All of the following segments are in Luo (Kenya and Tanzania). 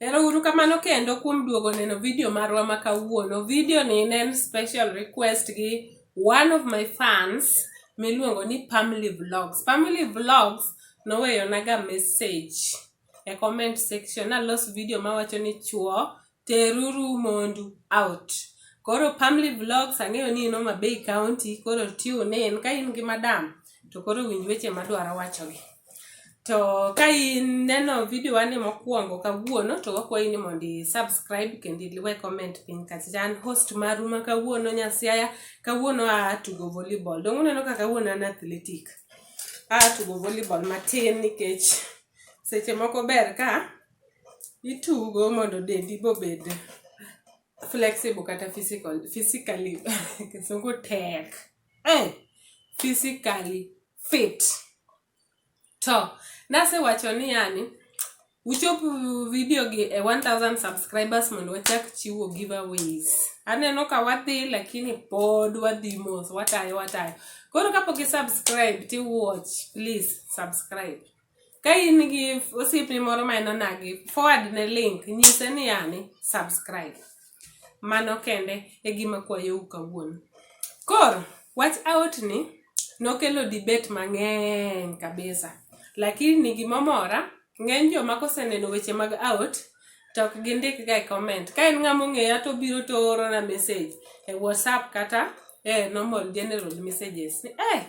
Erouru kamano kendo kuom duogo neno video marwa ma kawuono. Video ni ne en special request gi one of my fans miluongo ni Pamly Vlogs. Pamly Vlogs noweyonaga message e comment section nalos video mawacho ni chuo Teruru mondu out. Koro Pamly Vlogs ang'eyo ni in Homa Bay County, koro tune in. Ka in gi madam, to koro winj weche madwaro wachogi. To ka in neno video wani mokwongo kawuono, to wakwayi ni mondo i subscribe kendo iwe comment piny kacha. An host maru ma kawuono Nyasiaya, kawuono a tugo volleyball. Donge uneno ka kawuono an athletic. A tugo volleyball matin nikech seche moko ber ka itugo mondo dendi be obed flexible kata physical physically kisungu tek eh, physically fit to nasewacho ni yani uchop video gi e 1000 subscribers mondo wachak chiwo giveaways aneno ka wadhi lakini pod wadhi mos watayo watayo koro kapok i subscribe ti watch please subscribe Ka in gi osiepni moro ma en onagi, forward ne link, nyise ni yani subscribe. Mano kende e gima kwayou kawuono. Koro, wach aot ni nokelo debate mang'eny kabisa. Lakini gimomora, ng'eny joma koseneno weche mag aot, to ok gindik ga e comment. Ka en ng'ama ong'eya to obiro to oorona message e WhatsApp kata e normal general messages ni eh!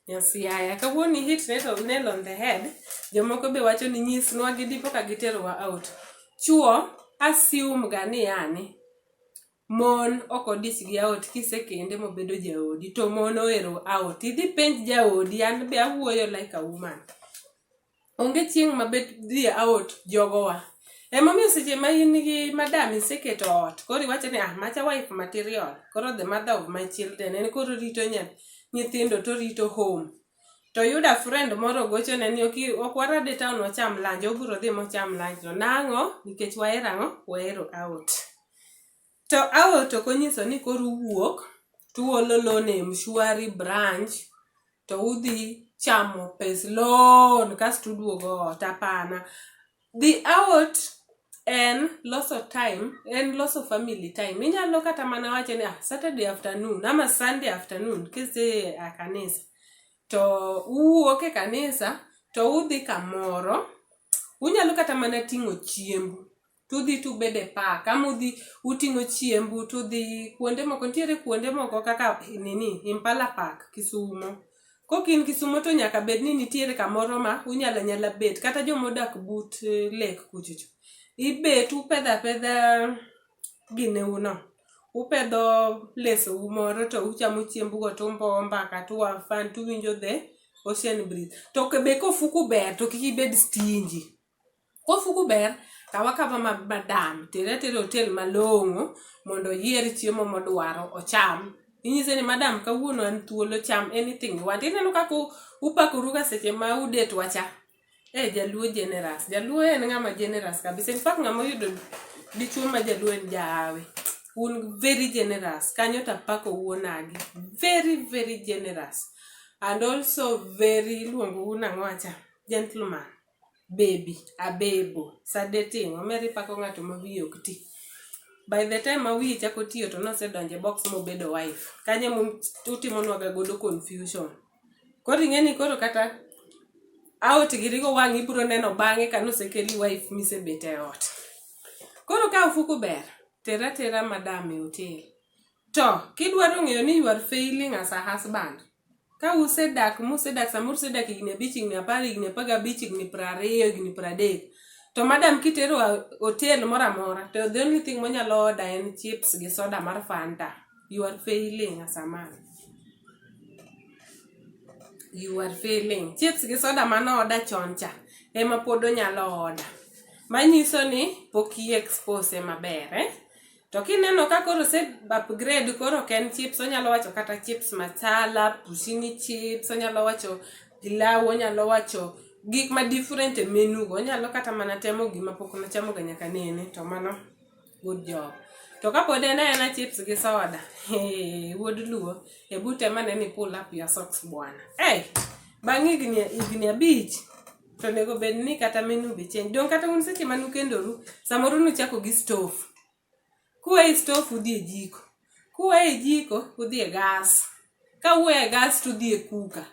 Nyasiyaya, kawuono i hit nail on, nail on the head. Jomoko be wacho ni nyisnwa gi dipo ka giterowa out. Chuo assume ga ni yani mon ok odich gi aot kisekende mobedo jaodi to mon ohero aot. Idhi penj jaodi an be awuoyo like a woman. Onge chieng ma bet dhi out jogo wa. Ema omiyo seche ma in gi madam iseketo ot koro iwacho ni ah macha wife material koro the mother of my children en koro orito nyithindo to orito home. To oyudo a friend moro ogochone ni ok warad e town wacham lunch, obiro dhi mocham lunch no. Nang'o? Nikech wahero ang'o? Wahero out. To aol to konyiso ni koro uwuok to uolo loan e Mshwari branch to udhi chamo pes loan kasto uduogo ot. Hapana. Dhi aol en loso time, en loso family time. Inyalo kata mana wacho ni ah, Saturday afternoon ama Sunday afternoon kise a kanisa to uwuok e kanisa to udhi kamoro. Unyalo kata mana ting'o chiembu. tudhi tubede park ama udhi uting'o chiembu tudhi kuonde moko nitiere kuonde moko kaka nini impala park kisumo kok in kisumo to nyaka bed ni nitiere kamoro ma unyala nyala bet kata jomodak but eh, lek kuchocho ibet upedha pedha gineu no upedho lesou moro to uchamo chiembugo tumbo mbaka tuwafan tuwinjo the ocean breeze to be kofuku ber to kik ibed stingy Kofuku ber, kaw akawa madam, tere atera e otel malong'o mondo oyier chiemo modwaro ocham. Inyise ni madam kawuono an thuolo cham anything you want. Ineno kaka upakoruga seche ma u date wa cha? Eh, jaluo generous. Jaluo en ng'ama generous kabisa. In fact ng'ama oyudo dichuo ma jaluo en jahawi. Un very generous. Kanyo to apako wuonagi. Very very generous. And also very iluongou nang'o acha? Gentleman. baby, abebo, sande timo. Omera ipako ng'ato ma wiye ok ti. By the time ma wiye chako tiyo to nosedonjo e box mobedo wife. Kanyo ema utimonwa ga godo confusion. Koro ing'eni koro kata out gi rigo wang' ibiro neno bang'e ka nosekeli wife misebet e ot. Koro ka ofuku ber, ter atera madam e hotel. To kidwaro ng'eyo ni you are failing as a husband, Ka usedak musedak samoro usedak higni abich, higni apar, higni apar gabich, higni piero ariyo, higni piero adek, to madam kitero a hotel moro amora to the only thing monyalo order en chips gi soda mar Fanta, you are failing as a man. You are failing. Chips gi soda mano order chon cha ema pod onyalo order. Manyiso ni pok i expose e maber, eh. To kineno ka koro ose upgrade koro ok en chips, onyalo wacho kata chips masala, pushini chips, onyalo wacho pilau, onyalo wacho gik ma different e menu go. Onyalo kata mana temo gima pok nochamo ga nyaka nene to mano good job. To kapod en aena chips gi soda, hee, wuod luo, hebu tem ane ni pull up your socks bwana. Ei, bang' higni higni abich. to onego bed ni kata menu be change dong kata un seche ma nukendoru samoro nuchako gi stove kuwe e stove udhi e jiko kuwe e jiko udhi e gas ka uwe e gas to udhi e kuka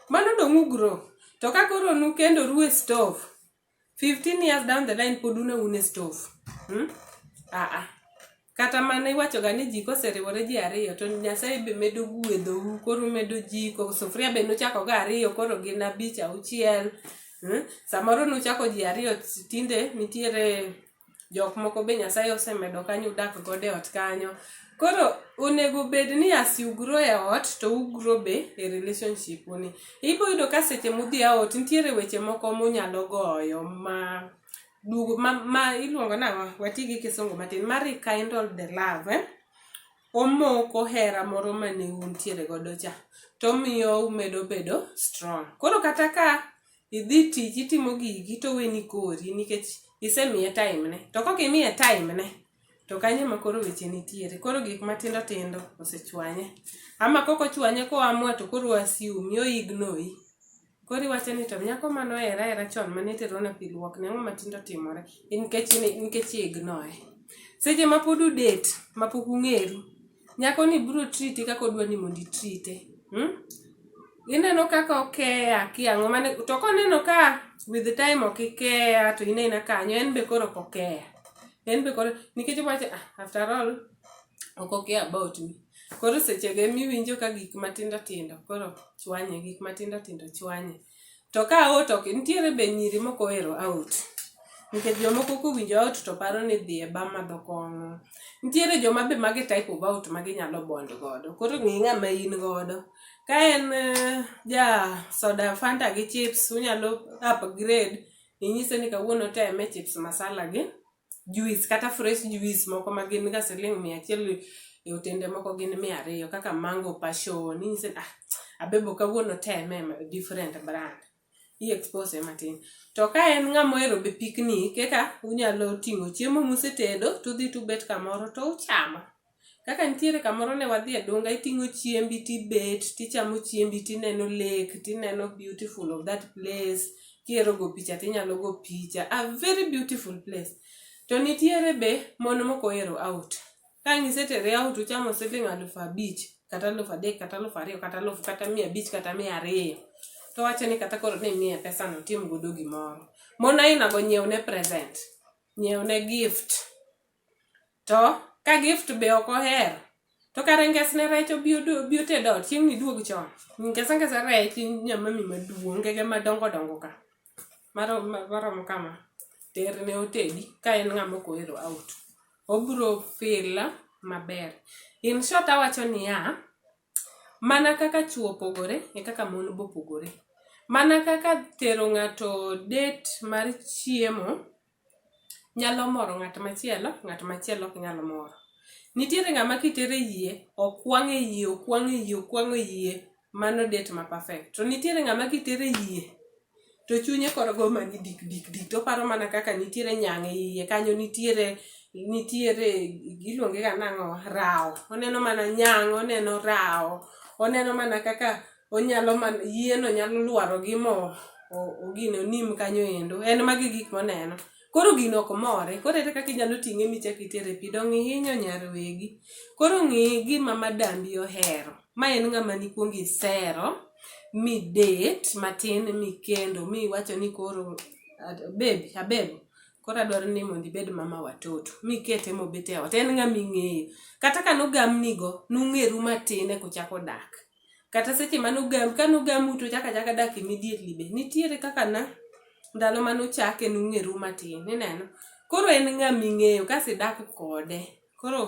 mano dong ugro to ka koro nukendoru e stove 15 years down the line pod una un e stove hmm? ah, ah. kata mana iwachoga ni ji koseriwore ji ariyo to nyasaye be medo guedhou koro medo jiko sufuria be nuchako ga ariyo koro gin abich auchiel hmm? samoro nuchako ji ariyo tinde nitiere jok moko be nyasaye osemedo kanyo udak godo e ot kanyo koro onego bed ni asi ugro e ot to ugro be e relationship uni ibo yudo ka seche mudhi aot nitiere weche moko munyalo goyo ma duogo ma, ma iluongo nang'o wati gi kisungu matin ma rekindle the love eh? omoko hera moro mane untiere godo cha to omiyo umedo bedo strong koro kata ka idhi tich itimo gigi to weni kori nikech isemiye time ne to kok imiye time ne to kanyo ema koro weche nitiere. Koro gik matindo tindo osechwanye. Ama kok ochwanye koa mwa to koro o assume, o ignore. Koro iwacho ni to nyako mane ohera ahera chon mane iterone pi luokne ang'o matinde otimore nikech i ignore. Seche ma pod u date ma pok ung'eru. Nyako ni biro triti kaka odwa ni mondo itrite. Hmm? Ineno kaka okeya kiang'o mane to koneno ka with the time ok ikeya to in aina kanyo en be koro ok okeya. En be koro nikech owacho ah, after all ok okeya about me. Koro sechego emiwinjo ka gik matindo tindo koro chwanye, gik matindo tindo chwanye. To ka aot ok nitiere be nyiri moko ohero aot. Nikech jomoko kowinjo aot to paro ni dhi e bar madho kong'o. Nitiere joma be mage e type of aot ma ginyalo bond godo. Koro ng'i ng'ama in godo. Ka en ja soda fanta gi chips unyalo upgrade inyise ni kawuono oteme chips masala gi. juice kata fresh juice moko ma gin ga siling mia achiel e otende moko gin mia ariyo kaka mango passion inyise ni ah abebo kawuono teme ma- different brand i expose matin to ka en ng'ama ohero be picnic eka unyalo ting'o chiemo musetedo tudhi tubet kamoro to uchamo Kaka nitiere kamoro ne wadhi e dunga iting'o chiembi tibet tichamo chiembi tineno lake tineno beautiful of that place kihero go picha tinyalo go picha a very beautiful place to nitiere be mon moko ohero out ka ang' isetere out uchamo siling alufu abich kata alufu adek kata alufu ariyo kata alufu kata mia abich kata mia ariyo to wacho ni kata koro ni imiye pesano otim godo gimoro mon ainago nyiewne present nyiewne gift To ka gift be ok ohero to kare ngesne rech obi oted ot chieng'ni iduog chon. Ngesa ngesa rech nyamami maduong' ngege madongo dongo ka marom kama terne otedi ka en ng'ama ok ohero out. Obiro feel maber. In short awacho niya, Mana kaka chwo opogore e kaka mon be opogore. Mana kaka tero ng'ato date mar chiemo nyalo moro ng'at machielo, ng'at machielo ok nyal moro. Nitiere ng'ama kitere e yie, okwang' e yie, okwang' e yie, okwang' e yie, mano date ma perfect. To nitiere ng'ama kitere e yie. to chunye koro go mani dik dik dik to oparo mana kaka nitiere nyang' e iye kanyo nitiere nitiere iluonge ga nang'o rawo oneno mana nyang' oneno rawo oneno mana kaka onyalo mana yieno nyalo lwaro gi mo o- ogine onim kanyo endo en magi gik moneno Koro gino ok more, koro ere kaka inyalo ting'e michak itere e pi? Donge ihinyo nyar wegi? Koro ng'i gima madambi ohero. Ma en ng'ama nikwongo isero, mi date matin mi kendo, mi iwacho ni koro babe, abebo, koro adwaro ni mondo ibed mama watoto. Mi ikete mobet e ot. En ng'ama ing'eyo. Kata ka nogamnigo, nung'eru matin e kuchako dak. kata seche mane ogam kane ogamu to uchako achaka dak immediately be nitiere kaka na ndalo mane uchake nung'eru matin ineno koro en ng'ama ing'eyo kasi idak kode koro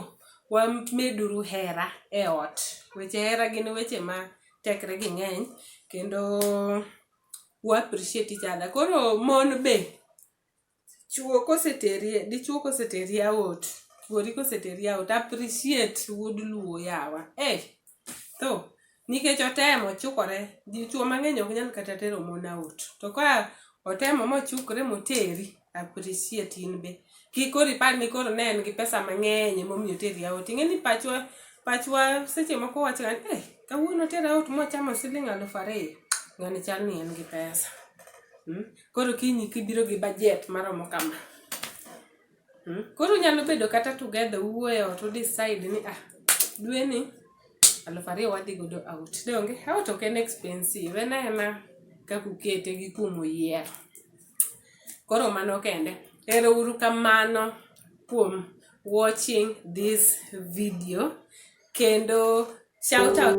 wameduru hera e ot weche hera gin weche ma tekre gi ng'eny kendo wa appreciate each other koro mon be Chuo koseteri dichuo koseteri aot, chuori koseteri aot appreciate wuod luo yawa. Eeh, tho nikech otemo ochukore, dichuo mangeny ok nyal kata tero mon aot to ka otemo mochukre moteri appreciate in be. Kik koro ipar ni koro ne en gi pesa mangeny ema omiyo oteri aot. Ingeni pachwa, pachwa seche moko wacho ga ni eeh, kawuono otera aot mochamo siling aluf ariyo, ngani chal ni en gi pesa. Mmm, Koro kiny kibiro gi bajet maromo kama. Hmm? Koro nyalo bedo kata together uwuoyo ot u decide ni ah dwe ni aluf ariyo wadhi godo out. Donge out ok en expensive en ena kaka ukete gi kumo yiero. Koro mano kende. Ero uru kamano kuom watching this video kendo shout out